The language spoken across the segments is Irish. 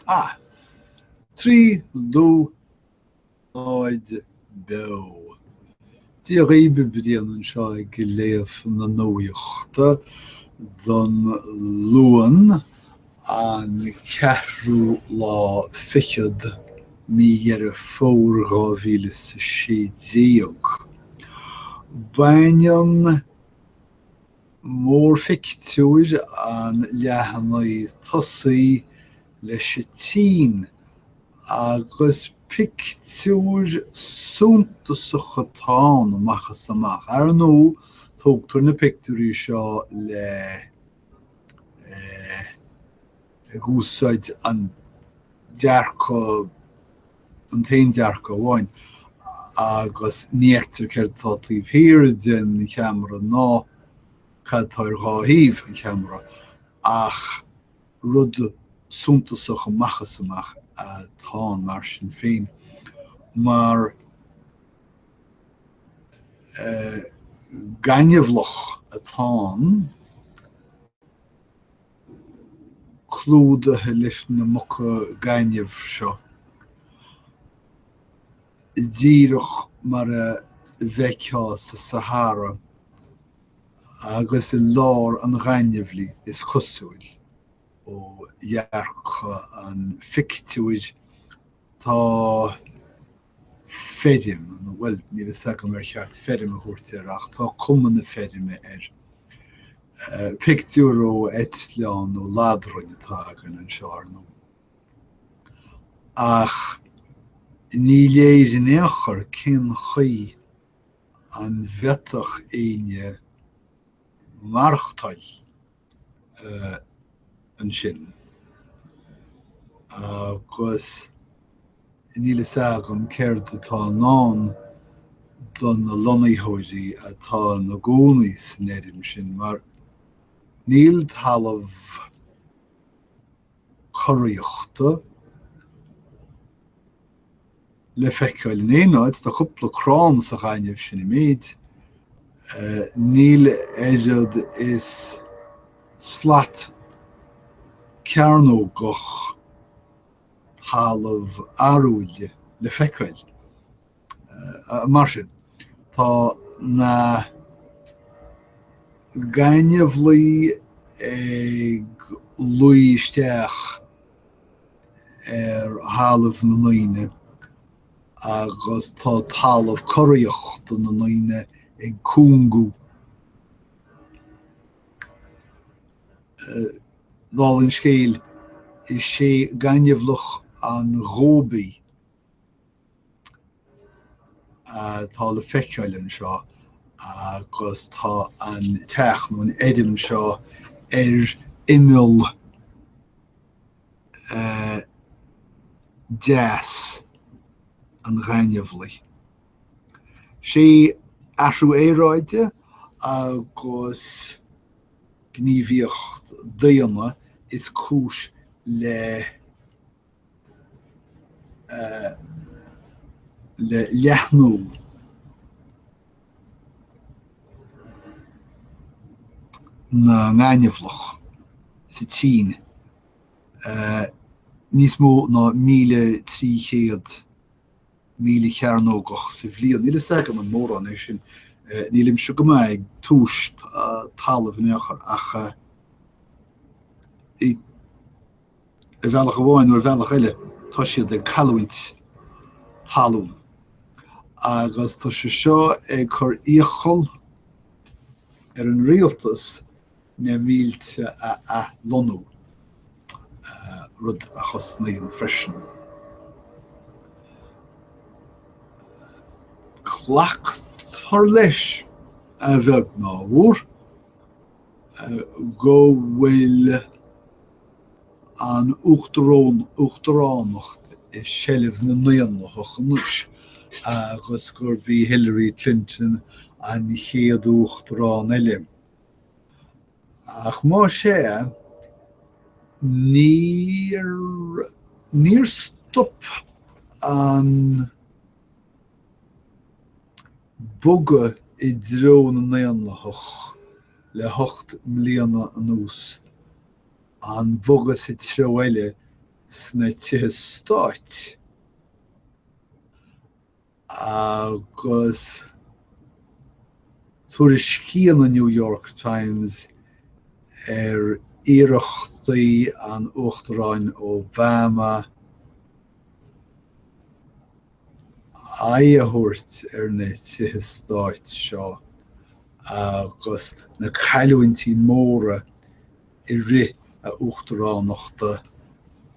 Ach trí dó, aon, beo. Dia dhaoibh, Brian anseo ag léamh na nuachta don Luan an ceathrú lá fichead mí Dheireadh Fómhair 2016, baineann Mórphictiúr an leathanaigh tosaigh leis an tSín, agus pictiúr suntasach atá ann amach is amach. Ar ndóigh, tógtar na pictiúirí seo le ag úsáid an dearcadh, an t-aon dearcadh amháin, agus ní fheictear céard atá taobh thiar den cheamara ná cad atá ar dhá thaobh an cheamara ach rud suntasach amach is amach atá ann mar sin féin mar gaineamhlach atá ann. clúdaithe leis na muca gainimh seo, díreach mar a bhfeicfeá sa Sahara agus i lár an ghaineamhlaigh, is cosúil, ó dhearcadh an phictiúir Tá feirm, bhuel, níl fhios agam ar cheart feirm a thabhairt air ach tá cuma na feirme air. Pictiúr ó eitleán nó ladrainn atá againn anseo, ar ndóigh. Ach ní léir in aon chor cén chaoi a bhféadfadh éinne maireachtáil ansin. Agus níl fhios agam céard atá i ndán do na lonnaitheoirí atá ina gcónaí san fheirm sin, mar níl talamh curaíochta le feiceáil in aon áit. Tá cúpla crann sa ghaineamh sin an méid. Níl oiread is slat cearnógach talamh arúil le feiceáil. Mar sin, tá na gaineamhlaigh ag luí isteach ar thalamh na ndaoine agus tá talamh curaíochta na ndaoine ag cúngú. Dála an scéil, is é Gaineamhlach an Ghóibí atá le feiceáil anseo agus tá an teach nó an fheirm seo ar imeall eh, deas an ghaineamhlaigh. Sé athrú aeráide agus gníomhaíocht daonna is cúis le le leathnú na ngaineamhlach sa tSín níos mó ná míle trí chéad míle cearnógach sa bhliain. Níl fhios agam an mór an é sin, nílimse go maith ag tomhas talamh in aon chor ach Ar bhealach amháin nó ar bhealach eile, tá siad ag cailliúint talún agus tá sé seo ag cur iachall ar an rialtas na mílte a athlonnú, rud a chosnaíonn freisin. Glactar leis, a bheag nó a mhór, go bhfuil an uachta, uachtaránacht i seilbh na nDaonlathach anois agus gurb í Hillary Clinton an chéad uachtarán eile. Ach más ea, níor, níor stop an bogadh i dtreo na nDaonlathach le hocht mbliana anuas. An bogadh sa treo eile sna tithe stáit agus tuairiscíonn an New York Times ar iarrachtaí an Uachtaráin Obama aghaidh a thabhairt ar na tithe stáit seo agus na cailliúintí móra i rith a uachtaránachta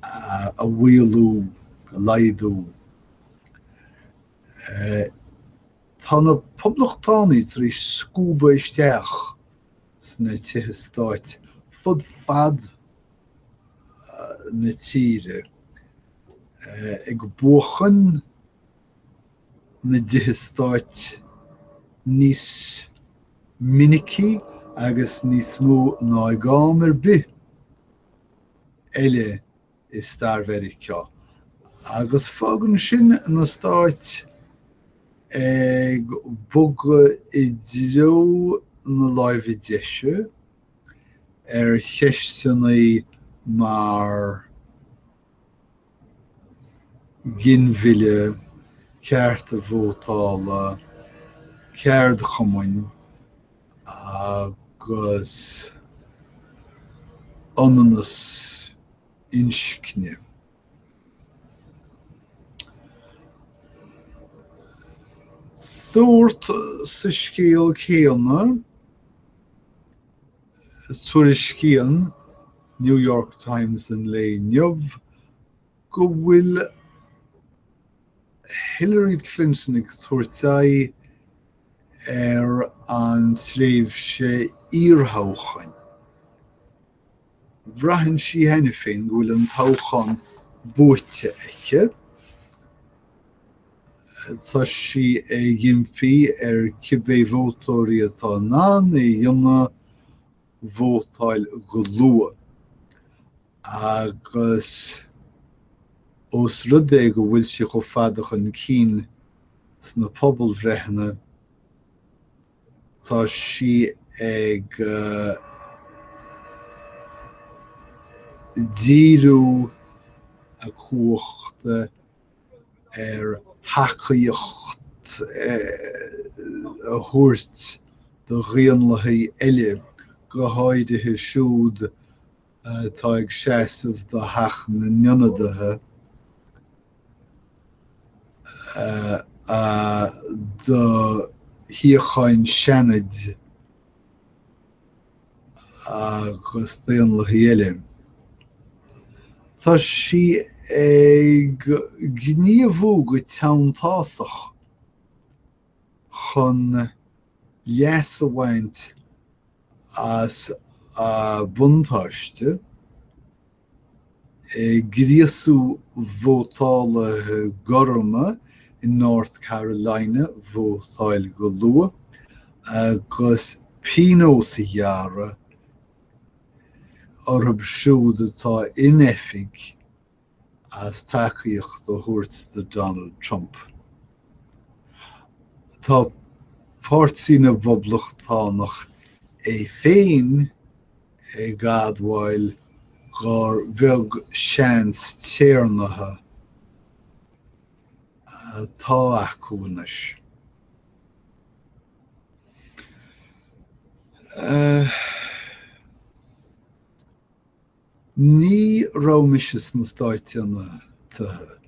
a mhaolú, a laghdú. Tá na Poblachtánaigh tar éis scuabadh isteach sna tithe stáit fud fad na tíre, ag buachan na dtithe stáit níos minicí agus níos mó ná ag am ar bith eile i stair Mheiriceá, agus fágann sin na Stáit ag bogadh i dtreo na láimhe deise. ar cheisteanna mar ghinmhilleadh, cearta vótála, ceardchumainn agus ionannas inscne. Sórt sa scéal céanna, tuairiscíonn New York Times an lae inniu go bhfuil Hillary Clinton ag tabhairt aghaidh ar an tréimhse iarthoghcháin. Braitheann sí cheana féin go bhfuil an toghchán buaite aici. Tá sí ag impí ar cibé vótóirí atá in ann é a dhéanamh, vótáil go luath. Agus ós rud é go bhfuil sí chomh fada chun cinn sna pobalbhreitheanna, Tá sí ag díriú a cumhachta ar thacaíocht a thabhairt do Dhaonlathaigh eile, go háirithe siúd atá ag seasamh do Theach na nIonadaithe do shuíocháin Seanaid agus Daonlathaigh eile. Tá sí ag gníomhú go teanntásach. chun leas a bhaint as a buntáiste, ag gríosú vótálaithe gorma in North Carolina vótáil go luath agus pionós a ghearradh orthu siúd atá in oifig. as tacaíocht a thabhairt do Donald Trump. Tá páirtí na bPoblachtánach é féin ag admháil gur bheag seans téarnaithe atá acu anois. Ní raibh mise sna Stáit Aontaithe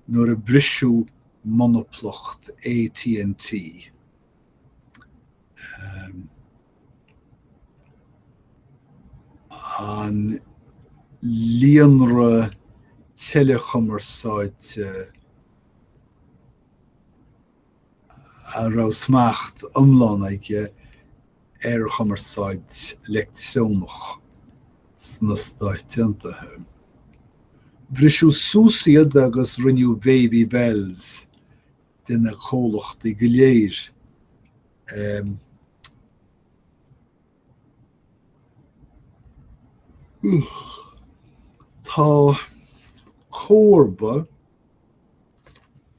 nuair a briseadh monaplacht AT&T, an líonra teileachumarsáide a raibh smacht iomlán aige ar chumarsáid leictreonach sna Stáit Aontaithe. Briseadh suas iad agus rinneadh Baby Bells de na comhlachtaí go léir a. Tá comharba.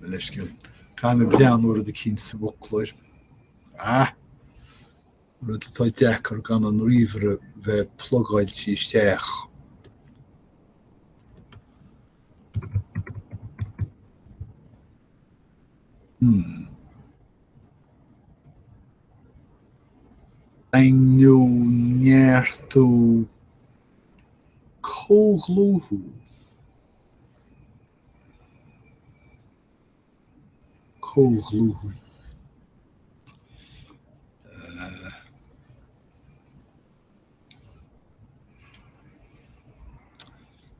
na leithscéal. Caithfidh mé breathnú ar rud eicínt sa bhfoclóir. Ah! Rud atá deacair gan an ríomhaire bheith plugáilte isteach. Hmm. Daingniú, neartú. Comhdhlúthú Comhdhlúthú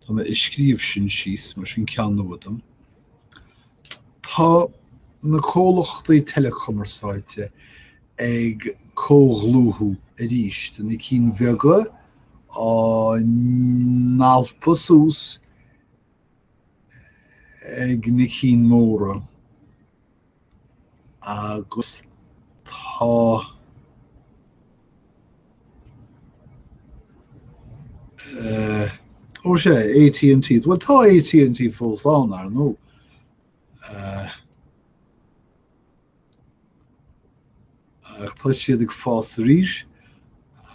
Tá mé ag scríobh sin síos, mar sin ceann nua dom. Tá na comhlachtaí teileachumarsáide ag comhdhlúthú aríst, na cinn bheaga á n-alpadh suas ag na cinn móra. agus tá eh, ó sé, AT&T, bhuel tá AT&T fós ann, ar ndóigh. Eh, ach tá siad ag fás arís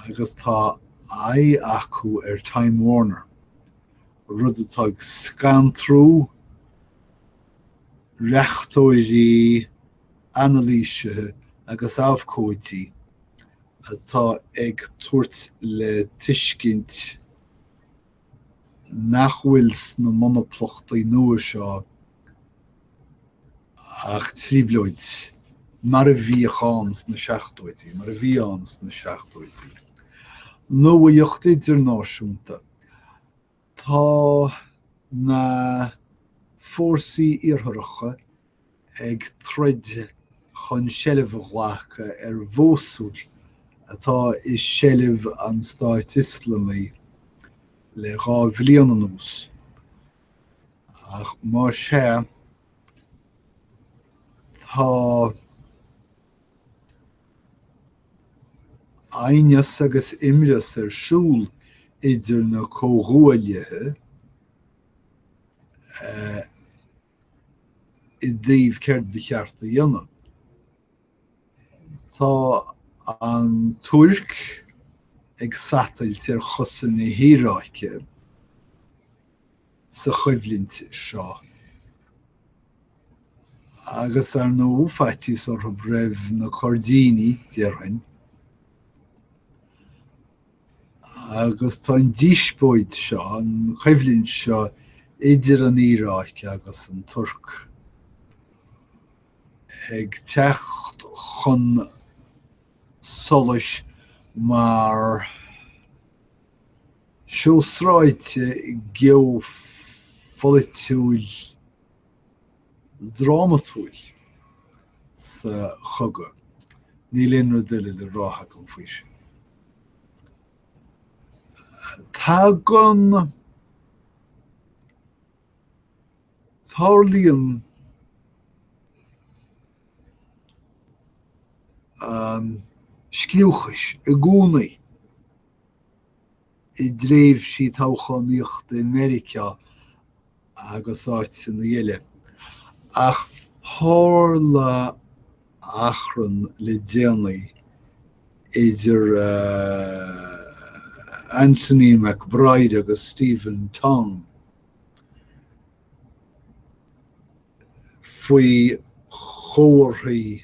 agus tá aghaidh acu ar Time Warner, rud atá ag scantrú reachtóirí, anailísithe agus abhcóidí atá ag tabhairt le tuiscint nach bhfuil sna monaplachtaí nua seo ach trioblóid, mar a bhíodh ann sna seachtóidí, mar a bhí ann sna seachtóidí. Nuaíocht idirnáisiúnta. Tá na fórsaí Iartharacha ag troid chun seilbh a ghlacadh ar Mhósúil, atá i seilbh an Stáit Ioslamaigh le dhá bhliain anuas, ach más ea, tá. Aighneas agus imreas ar siúl idir na comhghuaillithe i dtaobh céard ba cheart a dhéanamh. Tá an Tuirc ag satailt ar chosa na hIaráice sa choimhlint seo. Agus, ar ndóigh, faitíos orthu roimh na Coirdínigh, déarfainn. Agus tá an díospóid seo, an choimhlint seo idir an Iaráic agus an Tuirc ag teacht chun solais mar, seó sráide geopholaitiúil drámatúil sa chogadh, níl aon rud eile le rá agam faoi sin. Tagann, tarlaíonn scliúchais i gcónaí. i dtréimhsí toghchánaíochta i Meiriceá agus áiteanna eile, ach tharla achrann le déanaí idir Anthony McBride agus Stephen Tong faoi chomharthaí.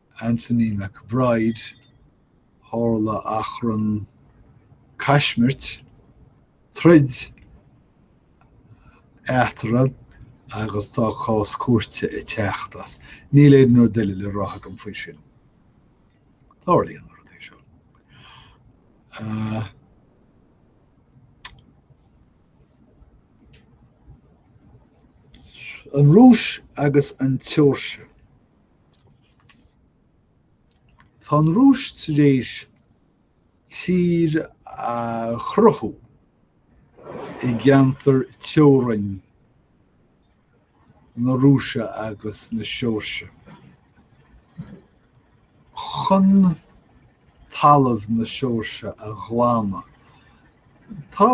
Anthony McBride, Tharla achrann caismirt, troid, eatarthu agus tá cás cúirte ag teacht as. Níl aon rud eile le rá agam faoi sin. Tarlaíonn na rudaí seo. An Rúis agus an tSeoirsia. Tá an Rúis tar éis tír a chruthú i gceantar teorainn na Rúise agus na Seoirsia chun talamh na Seoirsia a ghlámadh. Tá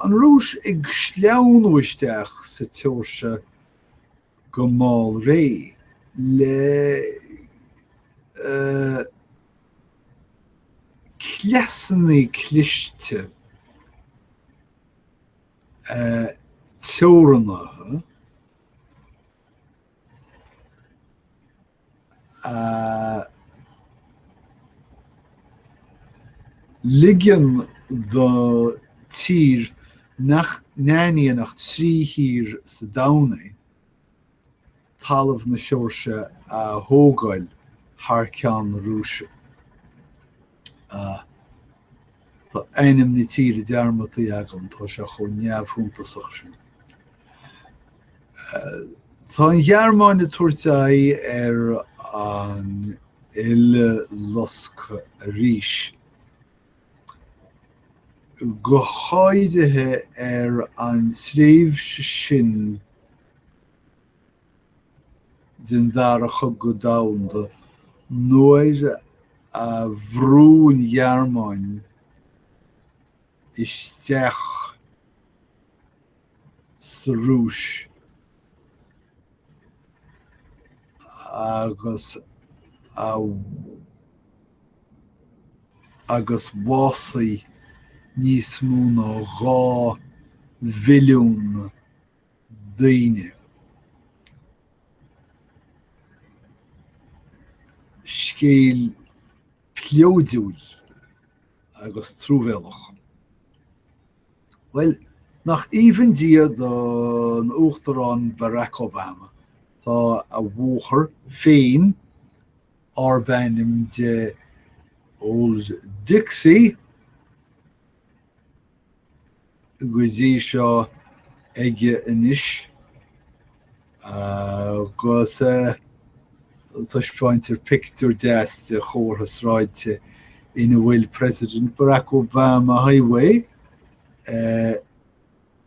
an Rúis ag sleamhnú isteach sa tSeoirsia go mall réidh le cleasanna cliste teorannaithe, ag ligean do tír nach n-aithníonn ach trí thír sa domhan é, talamh na Seoirsia a thógáil thar ceann na Rúise. Ah. Tá ainm na tíre dearmadta agam, tá sé chomh neamhshuntasach sin. Tá an Ghearmáin ag tabhairt aghaidh ar an Uileloscadh arís, go háirithe ar an tréimhse sin, den Dara Cogadh Domhanda nuair a bhrú an Ghearmáin isteach sa Rúis agus bhásaigh níos mó ná dhá mhilliún daoine. Scéal pleoidiúil agus truamhéalach. Bhuel, nach aoibhinn Dia don Uachtarán Barack Obama, tá a bhóthar féin, arb ainm di Old Dixie, go dtí seo aige anois agus taispeáintear pictiúr deas de chomhartha sráide ina bhfuil President Barack Obama Highway.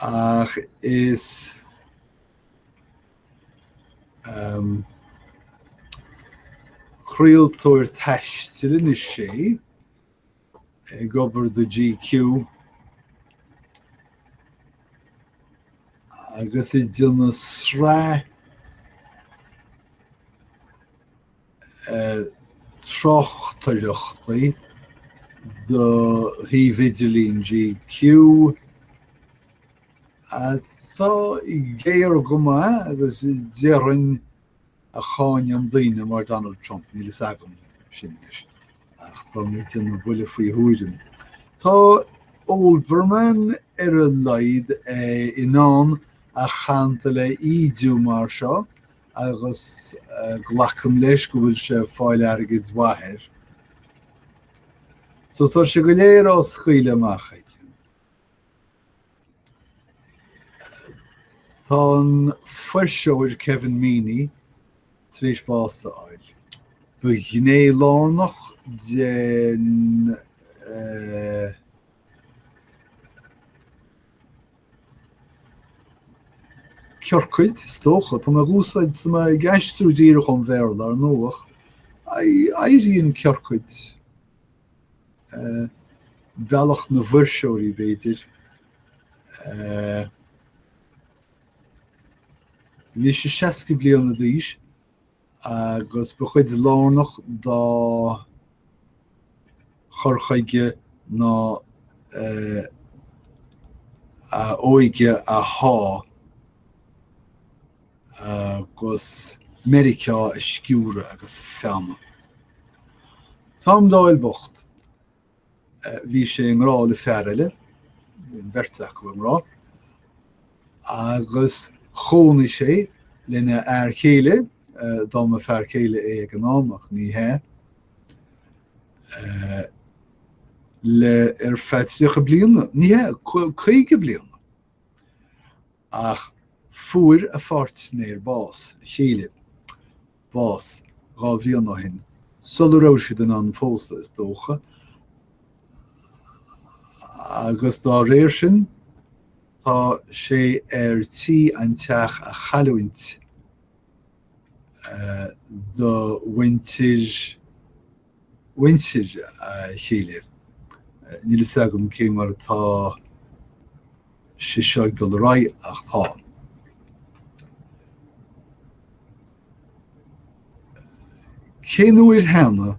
Ach is craoltóir taistil anois é, ag obair do GQ, agus ag déanamh sraith tráchtaireachtaí do shuíomh idirlín GQ atá géar go maith agus déarfainn a cháineann daoine mar Donald Trump, níl fhios agam sin anois ach táim ag déanamh buille faoi thuairim. Tá Olbermann ar a laghad in ann a chantal a ídiú mar seo. agus glacaim leis go bhfuil sé ag fáil airgid mhaith air so tá sé go léir á scaoileadh amach aige. Tá an fuirseoir Kevin Meaney tar éis bás a fháil. Ba ghné lárnach den eh, ciorcaid, is dócha. Tá mé ag úsáid, tá mé ag aistriú díreach ón Bhéarla, ar ndóigh. Éiríonn ciorcaid, bealach na bhfuirseoirí, b'fhéidir. Bhí sé seasca bliana d'aois. agus ba chuid lárnach dá chur chuige ná a óige a shá agus Meiriceá a sciúradh agus a feannadh. Tom Doyle bocht. Bhí sé i ngrá le fear eile, bhí an bheirt acu i ngrá, agus chónaigh sé lena fhear céile, dá mba fear céile é ag an am ach ní hea, le ar feadh tríocha bliana, ní hea, caoga bliana. Ach fuair a pháirtnéir bás, a chéile, bás dhá bhliain ó shin, sula raibh siad in ann pósadh, is dócha, agus dá réir sin, tá sé ar tí an teach a chailliúint do mhuintir mhuintir a chéile. Níl a fhios agam cé mar atá sé seo ag dul ar aghaidh ach tá. Cén uair cheana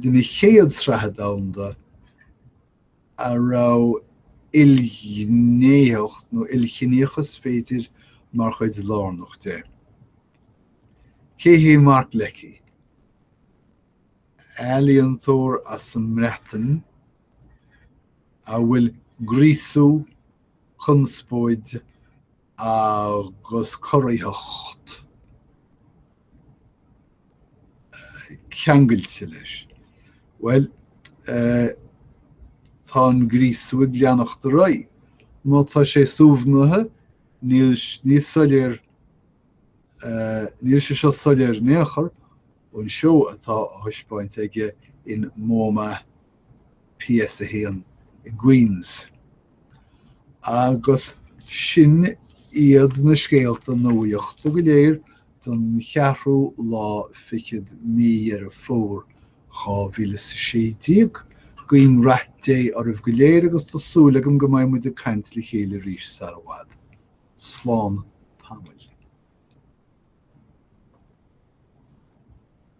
den chéad sraitheanna domhanda a raibh ilghnéitheacht, nó ilchiníochas, b'fhéidir, mar chuid lárnach de. Cé hé Mark Leckey? Ealaíontóir as an mBreatain a bhfuil gríosú, conspóid agus corraitheacht ceangailte leis. Bhuel, tá an gríosú ag leanacht ar aghaidh. Má tá sé suaimhnithe, níl sé soiléir, níl sé seo soiléir in aon chor ón seó atá á thaispeáint aige in MoMA PS a 1, i Queens. Agus sin iad na scéalta nuachta go léir don cheathrú lá fichead Mí Dheireadh Fómhair 2016. Guím Rath Dé oraibh go léir agus tá súil agam go mbeidh muid ag caint le chéile arís sara bhfad. Slán tamaill.